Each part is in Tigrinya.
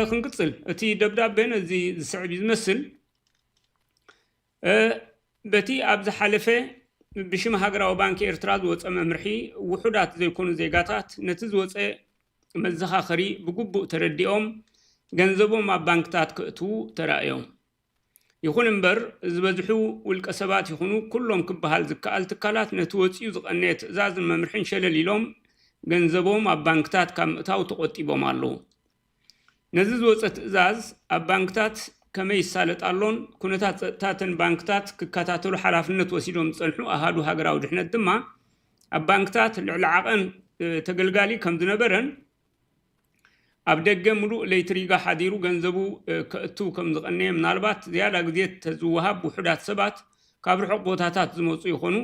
ክንቅጽል እቲ ደብዳቤ ነዚ ዝስዕብ እዩ ዝመስል በቲ ኣብ ዝሓለፈ ብሽም ሃገራዊ ባንኪ ኤርትራ ዝወፀ መምርሒ ውሑዳት ዘይኮኑ ዜጋታት ነቲ ዝወፀ መዘኻኸሪ ብግቡእ ተረዲኦም ገንዘቦም ኣብ ባንክታት ክእትዉ ተራእዮም ይኹን እምበር ዝበዝሑ ውልቀሰባት ይኹኑ ኩሎም ክበሃል ዝከኣል ትካላት ነቲ ወፂኡ ዝቐነየ ትእዛዝን መምርሕን ሸለል ኢሎም ገንዘቦም ኣብ ባንክታት ካብ ምእታው ተቖጢቦም ኣለዉ። ነዚ ዝወፀ ትእዛዝ ኣብ ባንክታት ከመይ ይሳለጥ ኣሎን ኩነታት ፀጥታ እተን ባንክታት ክከታተሉ ሓላፍነት ወሲዶም ዝፀንሑ ኣሃዱ ሃገራዊ ድሕነት ድማ ኣብ ባንክታት ልዕሊ ዓቐን ተገልጋሊ ከምዝነበረን ኣብ ደገ ምሉእ ለይቲ ሪጋ ሓዲሩ ገንዘቡ ከእትው ከም ዝቐነየ፣ ምናልባት ዝያዳ ግዜ ተዝወሃብ ውሑዳት ሰባት ካብ ርሑቕ ቦታታት ዝመጹ ይኾኑ፣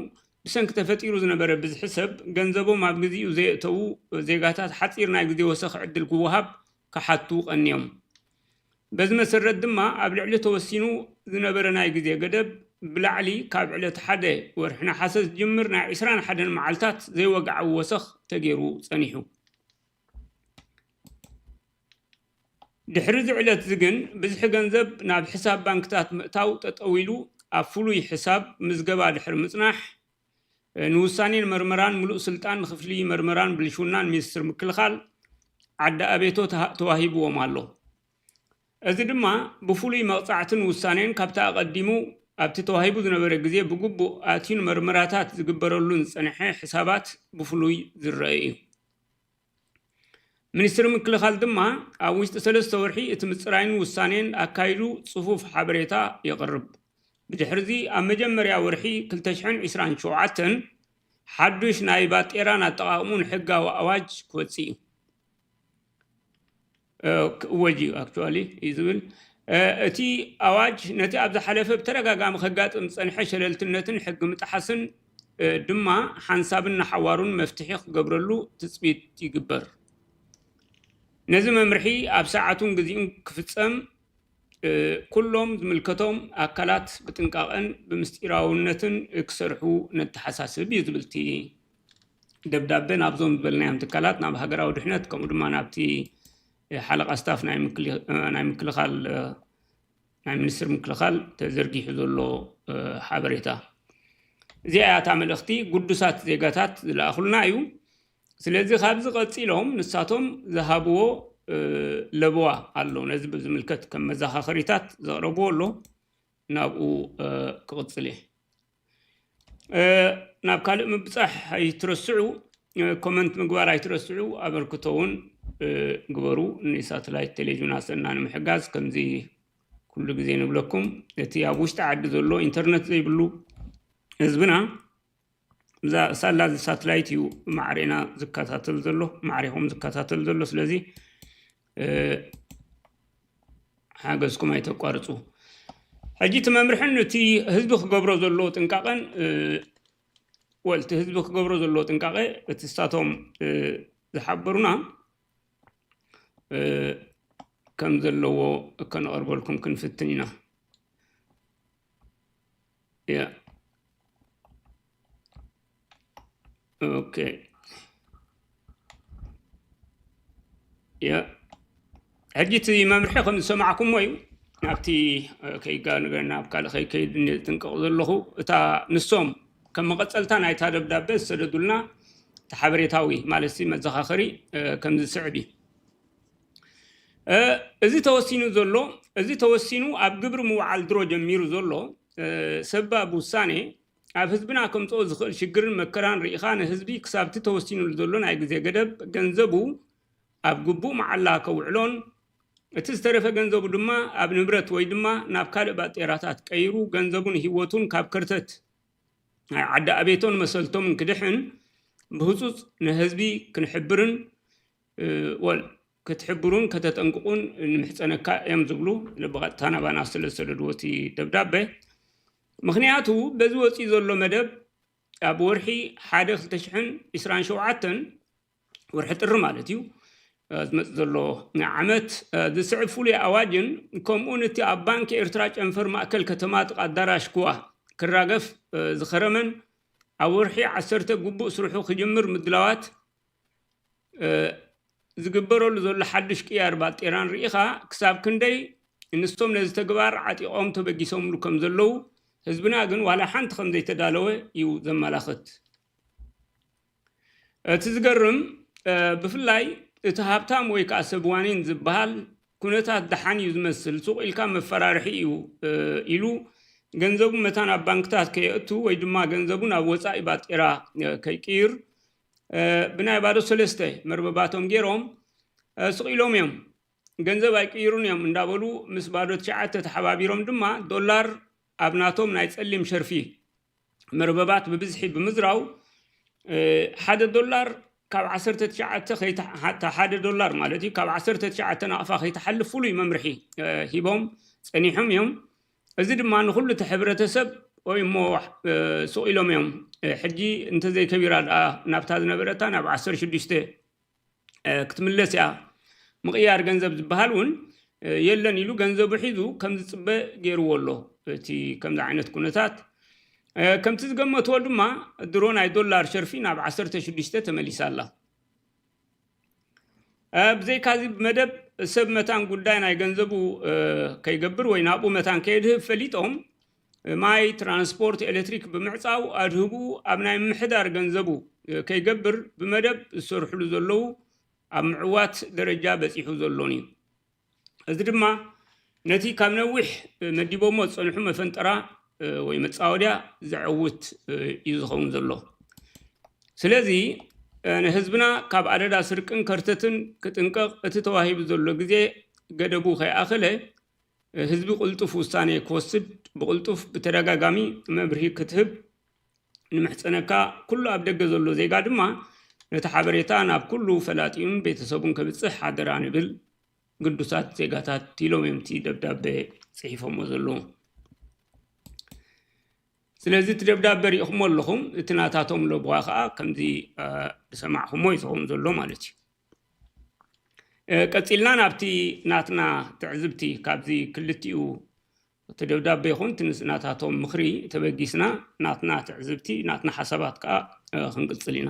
ብሰንኪ ተፈጢሩ ዝነበረ ብዝሒ ሰብ ገንዘቦም ኣብ ግዚኡ ዘየእተዉ ዜጋታት ሓጺር ናይ ግዜ ወሰኽ ዕድል ክወሃብ ክሓቱ ቀንዮም። በዚ መሰረት ድማ ኣብ ልዕሊ ተወሲኑ ዝነበረ ናይ ግዜ ገደብ ብላዕሊ ካብ ዕለት ሓደ ወርሒ ነሓሰ ዝጅምር ናይ ዕስራን ሓደን መዓልታት ዘይወግዓዊ ወሰኽ ተገይሩ ፀኒሑ። ድሕሪ እዚ ዕለት እዚ ግን ብዝሒ ገንዘብ ናብ ሕሳብ ባንክታት ምእታው ጠጠው ኢሉ ኣብ ፍሉይ ሕሳብ ምዝገባ ድሕሪ ምፅናሕ ንውሳኔን መርመራን ምሉእ ስልጣን ንክፍሊ መርመራን ብልሽውናን ሚኒስትር ምክልኻል ዓዲ ኣቤቶ ተዋሂብዎም ኣሎ። እዚ ድማ ብፍሉይ መቕጻዕትን ውሳኔን ካብቲ ኣቐዲሙ ኣብቲ ተዋሂቡ ዝነበረ ግዜ ብግቡእ ኣትዩን መርመራታት ዝግበረሉን ዝጸንሐ ሕሳባት ብፍሉይ ዝረኣ እዩ። ሚኒስትሪ ምክልኻል ድማ ኣብ ውሽጢ ሰለስተ ወርሒ እቲ ምፅራይን ውሳኔን ኣካይዱ ፅፉፍ ሓበሬታ የቕርብ። ብድሕሪ'ዚ ኣብ መጀመርያ ወርሒ ክልተ ሽሕን ዒስራን ሸውዓተን ሓዱሽ ናይ ባጤራን ኣጠቓቕምኡን ሕጋዊ ኣዋጅ ክወፅእ እዩ። ክእወጅ እዩ ኣክቹዋሊ እዩ ዝብል እቲ ኣዋጅ ነቲ ኣብ ዝሓለፈ ብተደጋጋሚ ከጋጥም ዝፀንሐ ሸለልትነትን ሕጊ ምጥሓስን ድማ ሓንሳብን ንሓዋሩን መፍትሒ ክገብረሉ ትፅቢት ይግበር። ነዚ መምርሒ ኣብ ሰዓቱን ግዚኡን ክፍፀም ኩሎም ዝምልከቶም ኣካላት ብጥንቃቐን ብምስጢራውነትን ክሰርሑ ነተሓሳስብ እዩ ዝብል እቲ ደብዳበ ናብዞም ዝበልናዮም ትካላት ናብ ሃገራዊ ድሕነት ከምኡ ድማ ናብቲ ሓለቓ ስታፍ ናይ ምክልኻል ናይ ሚኒስትሪ ምክልኻል ተዘርጊሑ ዘሎ ሓበሬታ እዚኣ እያ እታ መልእኽቲ ግዱሳት ዜጋታት ዝለኣኹልና እዩ ስለዚ ካብዚ ቀፂሎም ንሳቶም ዝሃብዎ ለበዋ ኣሎ ነዚ ብዝምልከት ከም መዘኻኸሪታት ዘቕረብዎ ኣሎ ናብኡ ክቕፅል እየ ናብ ካልእ ምብፃሕ ኣይትረስዑ ኮመንት ምግባር ኣይትረስዑ ኣበርክቶ እውን ግበሩ ንሳተላይት ቴሌቭዥን ኣሰና ንምሕጋዝ ከምዚ ኩሉ ግዜ ንብለኩም እቲ ኣብ ውሽጢ ዓዲ ዘሎ ኢንተርነት ዘይብሉ ህዝብና እዛ ሳላ እዚ ሳተላይት እዩ ማዕሬና ዝከታተል ዘሎ ማዕሬኹም ዝከታተል ዘሎ ስለዚ ሓገዝኩም ኣይተቋርፁ። ሕጂ እቲ መምርሕን እቲ ህዝቢ ክገብሮ ዘለዎ ጥንቃቐን ወል እቲ ህዝቢ ክገብሮ ዘለዎ ጥንቃቐ እቲ እሳቶም ዝሓበሩና ከም ዘለዎ ከነቐርበልኩም ክንፍትን ኢና። Yeah. Okay. Yeah. ሕጂ እቲ መምርሒ ከም ዝሰማዕኩሞ እዩ ናብቲ ከይጋ ነገር ናብ ካልእ ከይከይድ ጥንቀቕ ዘለኹ እታ ንሶም ከም መቐፀልታ ናይታ ደብዳቤ ዝሰደዱልና እቲ ሓበሬታዊ ማለት መዘኻኸሪ ከም ዝስዕብ እዩ እዚ ተወሲኑ ዘሎ እዚ ተወሲኑ ኣብ ግብሪ ምውዓል ድሮ ጀሚሩ ዘሎ ሰባብ ውሳኔ ኣብ ህዝብና ከምፅኦ ዝኽእል ሽግርን መከራን ርኢኻ ንህዝቢ ክሳብቲ ተወሲኑሉ ዘሎ ናይ ግዜ ገደብ ገንዘቡ ኣብ ግቡእ መዓላ ከውዕሎን እቲ ዝተረፈ ገንዘቡ ድማ ኣብ ንብረት ወይ ድማ ናብ ካልእ ባጤራታት ቀይሩ ገንዘቡን ህይወቱን ካብ ከርተት ናይ ዓዲ ኣቤቶን መሰልቶምን ክድሕን ብህፁፅ ንህዝቢ ክንሕብርን ወል ክትሕብሩን ከተጠንቅቑን ንምሕጸነካ እዮም ዝብሉ ብቐጥታ ናባና ስለ ዝሰደድዎ እቲ ደብዳበ ምክንያቱ በዚ ወፂኡ ዘሎ መደብ ኣብ ወርሒ ሓደ ክልተ ሽሕን ዕስራን ሸውዓተን ወርሒ ጥሪ ማለት እዩ ዝመፅ ዘሎ ዓመት ዝስዕብ ፍሉይ ኣዋጅን ከምኡውን እቲ ኣብ ባንኪ ኤርትራ ጨንፈር ማእከል ከተማ ጥቃ ኣዳራሽ ክዋ ክራገፍ ዝኸረመን ኣብ ወርሒ ዓሰርተ ግቡእ ስርሑ ክጅምር ምድላዋት ዝግበረሉ ዘሎ ሓዱሽ ቅያር ባጤራን ርኢኻ ክሳብ ክንደይ እንስቶም ነዚ ተግባር ዓጢቖም ተበጊሶምሉ ከም ዘለዉ ህዝብና ግን ዋላ ሓንቲ ከም ዘይተዳለወ እዩ ዘመላኽት። እቲ ዝገርም ብፍላይ እቲ ሃብታም ወይ ከዓ ሰብ ዋኒን ዝበሃል ኩነታት ደሓን እዩ ዝመስል ሱቕ ኢልካ መፈራርሒ እዩ ኢሉ ገንዘቡ መታን ኣብ ባንክታት ከየእቱ ወይ ድማ ገንዘቡ ናብ ወፃኢ ባጤራ ከይቅይር ብናይ ባዶ ሰለስተ መርበባቶም ገይሮም ስቒሎም እዮም። ገንዘብ ኣይቅይሩን እዮም እንዳበሉ ምስ ባዶ ትሽዓተ ተሓባቢሮም ድማ ዶላር ኣብ ናቶም ናይ ጸሊም ሸርፊ መርበባት ብብዝሒ ብምዝራው ሓደ ዶላር ካብ ዓሰርተ ትሽዓተ ሓደ ዶላር ማለት እዩ ካብ ዓሰርተ ትሽዓተ ናቕፋ ከይትሓልፍ ፍሉይ መምርሒ ሂቦም ጸኒሖም እዮም። እዚ ድማ ንኹሉ እቲ ሕብረተሰብ ኦይ እሞ ሱቕ ኢሎም እዮም ሕጂ እንተዘይከቢራ ድኣ ናብታ ዝነበረታ ናብ ዓሰርተ ሽዱሽተ ክትምለስ እያ ምቕያር ገንዘብ ዝበሃል እውን የለን ኢሉ ገንዘቡ ሒዙ ከም ዝፅበ ገይርዎ ኣሎ እቲ ከምዚ ዓይነት ኩነታት ከምቲ ዝገመትዎ ድማ ድሮ ናይ ዶላር ሸርፊ ናብ ዓሰርተ ሽዱሽተ ተመሊሳ ኣላ ብዘይካዚ መደብ ሰብ መታን ጉዳይ ናይ ገንዘቡ ከይገብር ወይ ናብኡ መታን ከየድህብ ፈሊጦም ማይ ትራንስፖርት ኤሌክትሪክ ብምዕፃው ኣድህቡ ኣብ ናይ ምሕዳር ገንዘቡ ከይገብር ብመደብ ዝሰርሕሉ ዘለዉ ኣብ ምዕዋት ደረጃ በፂሑ ዘሎን እዩ እዚ ድማ ነቲ ካብ ነዊሕ መዲቦሞ ዝፀንሑ መፈንጠራ ወይ መፃወድያ ዘዕውት እዩ ዝኸውን ዘሎ ስለዚ ንህዝብና ካብ ኣደዳ ስርቅን ከርተትን ክጥንቀቕ እቲ ተዋሂቡ ዘሎ ግዜ ገደቡ ከይኣኸለ ህዝቢ ቅልጡፍ ውሳኔ ክወስድ ብቕልጡፍ ብተደጋጋሚ መብርሂ ክትህብ ንምሕጸነካ ኩሉ ኣብ ደገ ዘሎ ዜጋ ድማ ነቲ ሓበሬታ ናብ ኩሉ ፈላጢኡን ቤተሰቡን ከብጽሕ ሓደራ ንብል ግዱሳት ዜጋታት ኢሎም እዮም እቲ ደብዳበ ጽሒፎሞ ዘለዉ ስለዚ እቲ ደብዳበ ሪኢኹሞ ኣለኹም እቲ ናታቶም ለብዋ ከዓ ከምዚ ዝሰማዕኹሞ እዩ ዝኸውን ዘሎ ማለት እዩ ቀፂልና ናብቲ ናትና ትዕዝብቲ ካብዚ ክልቲኡ እቲ ደብዳቤ ይኹን እቲ ምስ ናታቶም ምኽሪ ተበጊስና ናትና ትዕዝብቲ ናትና ሓሳባት ከኣ ክንቅጽል ኢና።